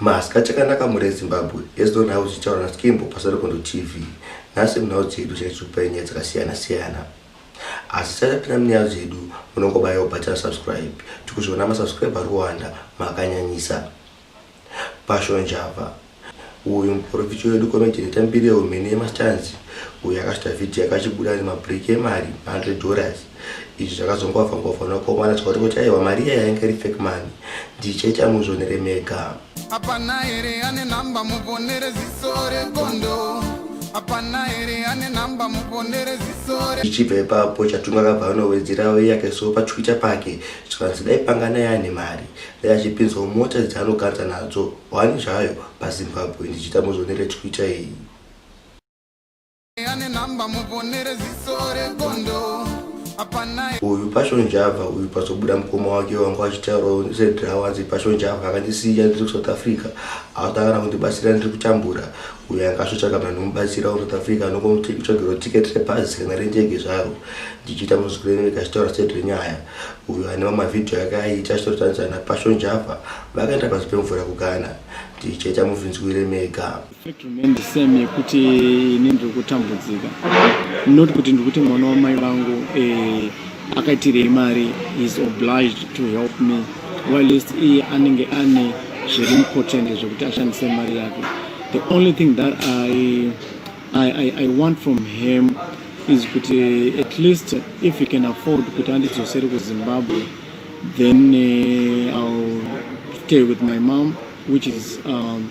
Maska chakanaka mhuri yezimbabwe yes don house ichitaura naskimbo pasarekondo tv nhasi munhau dzedu chaitikupai nyaya dzakasiyana siyana asi sachapinda munyaya dzedu munongobayawo bhatira subscribe tikuzviona masubscribe ari kuwanda makanyanyisa pashonjava uyu muporofiti wedu komejeneta mbiri yeumene yemastanzi uyu akasvita vhidhiyo akachibuda nemabreak emari 100 dollars izvi zvakazongwavha ngwavha nokomana zvakati kuti aiwa mari iya yainge iri fake mani ndichaita muzvonere mega hapana here ane nhamba muvonere ziso regondo hapana here ane nhamba muvonere ziso ichibva ipapo chatunga akabva anowedzera uye yake so patwitter pake zvikanzi dai pangana yaane mari dai achipinzwa mota dzaanokanza nadzo hwani zvayo pazimbabwe ndichiita muzvonere twitter iyi ane namba muvonere ziso regondo uyu passion java uyu pazobuda mukoma wake wangu achitaurawo zvedrawanzi passion java akandisiya ndiri kusouth africa atakana kundibatsira ndiri kutambura uyo angasvotsvaga vanhu mubatsira kusouth africa anokomutsvagiro ticket rebhazi kana rendege zvaro ndichiita muzikurenereka achitaura state renyaya uyo ane mamavhidhiyo ake aiita achitotarisana passion java vakaenda pasi pemvura kugana ndichaita muvhinzwire mega Fact remain the same yekuti ini ndiri kutambudzika not kuti ndikuti mwana wamai vangu eh, akaitirei mari is obliged to help me whilst iye anenge ane zviri important zvekuti ashandise mari yake the only thing that I, I, I, I want from him is kuti at least if he can afford kuti andidzosere kuzimbabwe then uh, i'll stay with my mom which is um,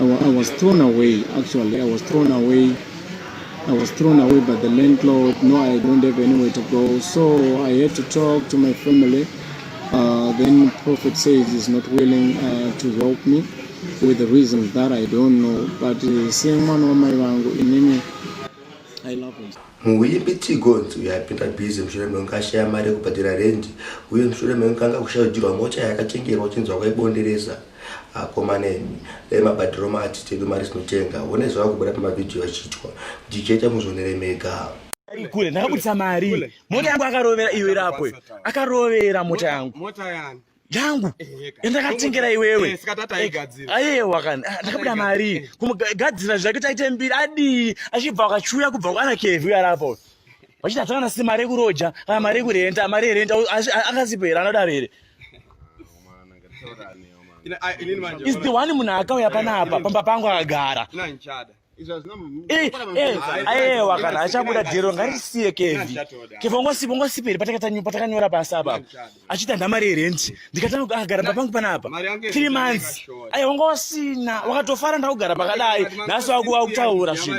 I, I was thrown away actually I was thrown away I was thrown away by the landlord. No, I don't have anywhere to go. So I had to talk to my family. Uh, then Prophet says he's not willing uh, to help me with the reasons that I don't know. But uh, seeing one of my vangu in any, I love him. muimbi tigonzi uyo apinda busy mushure mekunge ashaya mari yekubhadhira rendi uye mushure mekunge anga kusharudzirwa mocha yakatengerwa chinzwa kwaibondereza akomane dai mabhadhiro mati tedu mari sinotenga one zvava kubuda pamavhidhiyo achiitwa ndichete muzvionere mega kule ndakabudisa mari mota yangu akarovera iwe rapo akarovera mota yangu yangu yandakatengera eh, iwewe eh, eh, ayewa kani ah, ndakabuda mari kumugadzira zvake taite mbiri adii achibva akachuya kubva kwana kevhi uyo arapo vachiti hatakana si mari yekuroja kana mari yekurenta mari yerenta akasipo here anodaro here is the one munhu akauya panapa pamba pangu akagara ayewa kana achabuda dhero ngarisiye kevi kevi ongosipa ongosiperi patakanyora pasi apa achiita ndamari yerendi ndikatanga akagara papangu panapa three months aye wanga wasina wakatofara ndakugara pakadai nhasi wakutaura zvinhu